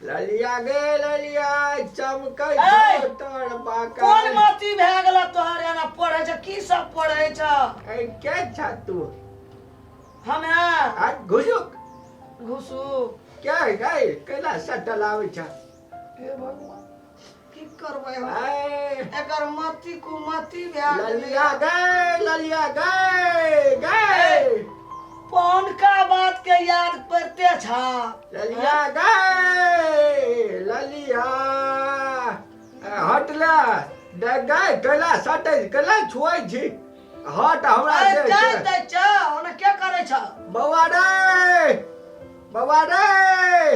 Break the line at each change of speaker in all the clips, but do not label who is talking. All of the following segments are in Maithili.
ललिया गे ललिया चमकै ऐ! छौ तोर कोन
बाका
मती भए
गेल तोहर एना पढ़ै छ की सब पढ़ै छ ऐ के छ
तू हम
है आ
घुसुक घुसू
के गए
कैला सटल आबै छ हे भगवान
की करबै हम ऐ, एकर
मति
कुमति भए गेलै ललिया गए
ललिया
गए गए
पौनका
बात के याद पड़ते छा ललिया
गए ललिया ए, हटला दे गए कैला सटे कैला छुआइ छी हट हमरा अरे से जाय छै। दै छ ओना
के करै छ
बौआ रे बौआ रे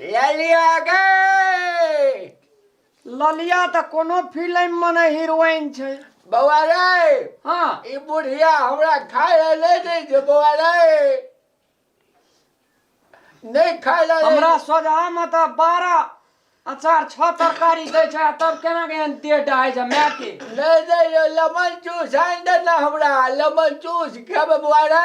ले
लिया गे
ललिया तऽ कोनो फिल्म में ने हीरोइन छै बौआ रे
हाँ ई
बुढ़िया
हमरा खाय ले ले दे जे बौआ रे नहीं खाय ले हमरा सोझा में
तऽ बारह अचार छह तरकारी दै छै आ तब केना के एहन देह डहाइ छै माय के नहीं दे ये
लेमन जूस आन दे ना हमरा लेमन जूस खेबे बौआ रे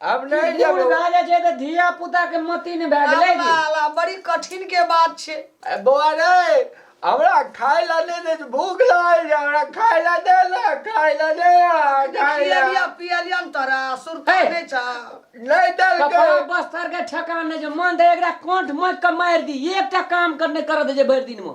अब नहि बूढ़ जेबो भए जाइ छै तऽ
धिया पुता के मति ने भए गेलै अल्लाह, अल्लाह, बड़ी कठिन
के बात छै ए, बौआ रे
हमरा खाय ला दे दे भूख लागल छै हमरा खाय ला दे ना खाय ला दे ना खाय खियलिया
ला पियलिया ने तोरा सुरता हे। नहि छौ नहीं कपड़ा
देलकै बस्तर के
ठेकान नहि छै मन तऽ एकरा कंठ माइक के मारि दी एकटा काम कर नहि करऽ दै छै भरि दिन मे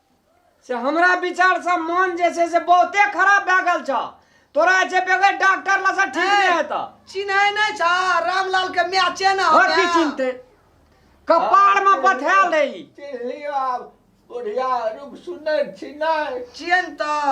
से हमरा विचार से मन जे छै से बहुते खराब भए गेल छ तोरा जे बगैर डॉक्टर लग से ठीक नहि हेत चिन्है नहि छ
रामलाल के माय छै ने हर की चिन्हते
कपार में बथा ले चिन्हलियो आब
बुढ़िया रूप सुनै छी नहि चिन्ह तऽ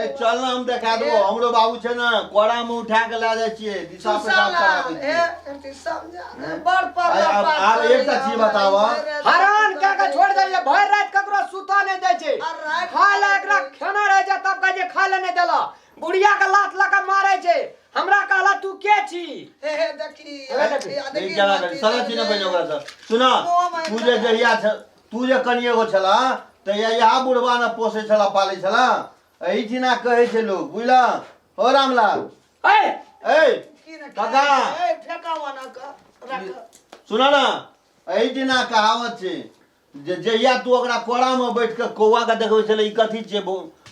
ए चल ना हम
देखा देबो हमरो बाबू छै ना कोड़ा में उठा के ला जाय छियै दिशा पे काम कराबै छियै
बड़ पर आय, आब आब एकटा
चीज बताबऽ। हरान का
के छोड़ दे भर रात ककरो सुता नहीं दे छे आ रात- खा ले एकरा खाना रह जा तब कहे खा ले नहीं देला बुढ़िया के लात लगा मारे छे हमरा कहला तू के छी
हे हे देखी ए, देखी, देखी, ई देखी, केना देखी, करी? साला छी ना देखी। बहिन ओकरा से सुना ओ माय तू जे गॉड। जहिया छ- तू जे कनी एगो छला तऽ या इहा बुढ़वा ने पोसे छला पाले छला एही ठिना कहे छै लोग बुझला हो रामलाल ए ए की ने काका। खाइ? ए, फेकावा
ना कऽ, राखऽ। सुना ना
एही ठिना कहावत छै जे जहिया तू ओकरा कोड़ा में बैठ के कौआ के देखबै छले ई कथी छियै बो-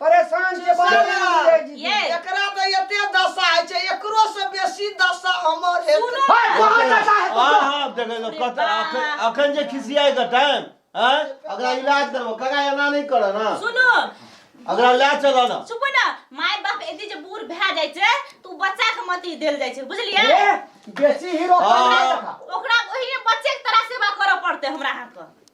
परेशान के बात सुनऽ, नहीं है जी ये। एकरा तो
एते
दशा है छै एकरो से बेसी दशा हमर है सुनऽ। हाय कहां जाता है
हाँ तुम हाँ देखे लो कत बाप। अखन अखन जे खिसियाए का टाइम हैं अगला इलाज करबो कगा एना नहीं करे ना सुनो
अगला ले
चलो ना सुपो ना माय
बाप एते जे बूढ़ भए जाइ छै तू बच्चा के मति देल जाइ छै बुझलियै ये बेसी
हीरो हाँ। कहां देखा ओकरा
ओही बच्चे के तरह सेवा करऽ पड़तै हमरा अहाँके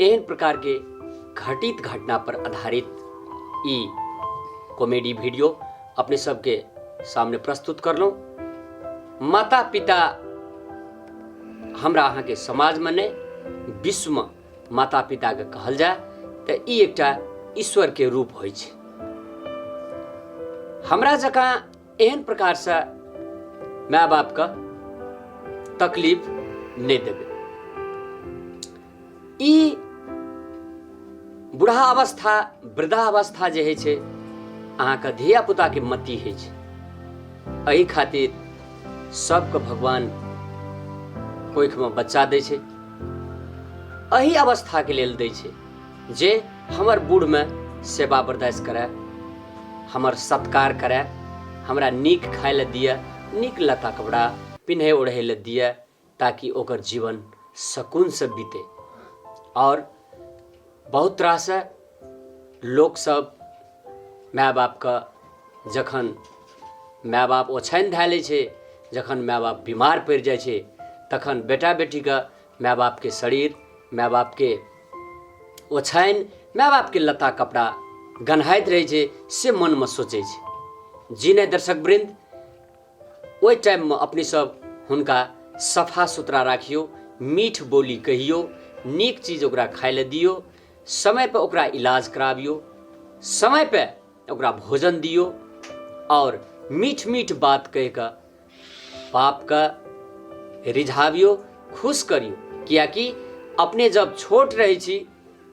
एहन प्रकार के घटित घटना पर आधारित ई कॉमेडी वीडियो अपने सबके सामने प्रस्तुत करलहुँ माता पिता हमरा अहाँके समाजमे नहि विश्वमे माता पिताके कहल जाय तऽ ई एकटा ईश्वरके रूप होइ छै हमरा जकाँ एहन प्रकारसँ माय बापके तकलीफ नहि देबै ई बुढ़ा अवस्था वृद्धा अवस्था जे होइ छै अहाँके धिया पुताके मति होइ छै एहि खातिर सबके भगवान कोखिमे बच्चा दै छै एहि अवस्थाके लेल दै छै जे हमर बूढ़मे सेवा बरदास करय हमर सत्कार करय हमरा नीक खाय लए दिअ नीक लत्ता कपड़ा पिन्है ओढ़ै लए दिअ ताकि ओकर जीवन सकूनसँ बीते आओर बहुत तरहसँ लोकसभ माय बापके जखन माय बाप ओछानि धए लै छै जखन माय बाप बीमार पड़ि जाइ छै तखन बेटा बेटीके माय बापके शरीर माय बापके ओछानि माय बापके लत्ता कपड़ा गन्हाइत रहै छै से मनमे सोचै छै जी नहि दर्शक वृन्द ओहि टाइममे अपने सब हुनका सफा सुथरा राखियौ मीठ बोली कहियौ नीक चीज ओकरा खाय लए दियौ समयपर ओकरा इलाज कराबियौ समयपर ओकरा भोजन दियौ आओर मीठ मीठ बात कहि कऽ पाप का रिझावियो खुश करियो कियाकि अपने जब छोट रहै छी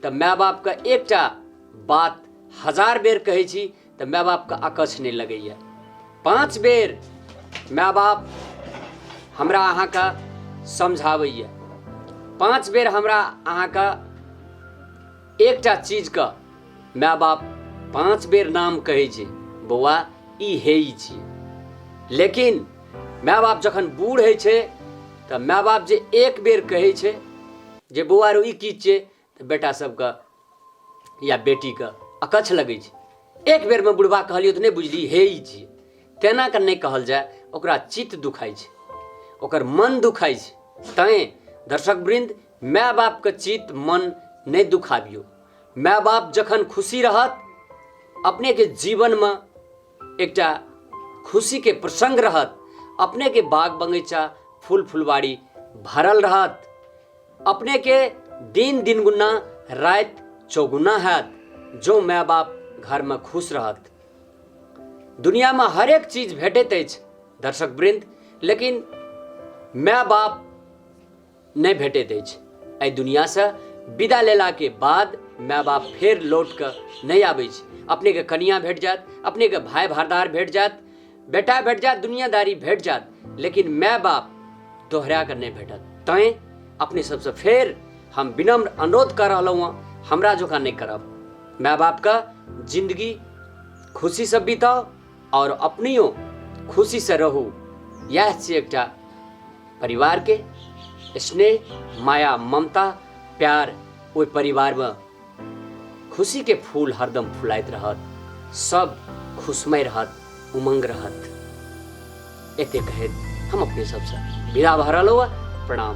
तऽ माय बापके एकटा बात हजार बेर कहै छी तऽ माय बापके अकछ नहि लगैए पाँच बेर माय बाप हमरा अहाँके समझाबैए पाँच बेर हमरा अहाँके एकटा चीज क माय बाप पांच बेर नाम कहै छै बौआ ई हे ई छी लेकिन माय बाप जखन बूढ़ होइ छै तऽ माय बाप जे एक बेर कहै छै जे बौआ रो ई की छियै तऽ बेटा सबके या बेटीके अकच्छ लगै छै एक बेरमे बुढ़बा कहलियौ तऽ नहि बुझली हे ई छी तेना कऽ नहि कहल जाय ओकरा चित्त दुखाइ छै ओकर मन दुखाइ छै तैँ दर्शक वृन्द माय बापके चित मन नहि दुखाबियौ माय बाप जखन खुशी रहत अपनेके जीवनमे एकटा खुशीके प्रसङ्ग रहत अपनेके बाग बगैचा फूल फुलवारी भरल रहत अपनेके दिन दिन गुना राति चौगुना हैत जो माय बाप घरमे खुश रहत दुनियामे हरेक चीज भेटैत अछि दर्शक वृन्द लेकिन माय बाप नहि भेटैत अछि एहि दुनियासँ विदा लेलाके बाद माय बाप फेर लौट कऽ नहि आबै छै अपनेके कनिया भेट जायत अपनेके भाय भारदार भेट जायत बेटा भेट जायत दुनियादारी भेट जायत लेकिन माय बाप दोहरा कऽ नहि भेटत तैँ अपने सबसँ फेर हम विनम्र अनुरोध कऽ रहलहुँ हँ हमरा जकाँ नहि करब माय बापके जिन्दगी खुशीसँ बिताउ आओर अपनियो खुशीसँ रहू इएह छी एकटा परिवारके स्नेह माया ममता प्यार ओहि परिवारमे खुशीके फूल हरदम फुलाइत रहत सब खुशमय रहत उमंग रहत एते कहैत हम अपने सबसँ विदा भऽ रहलहुँ प्रणाम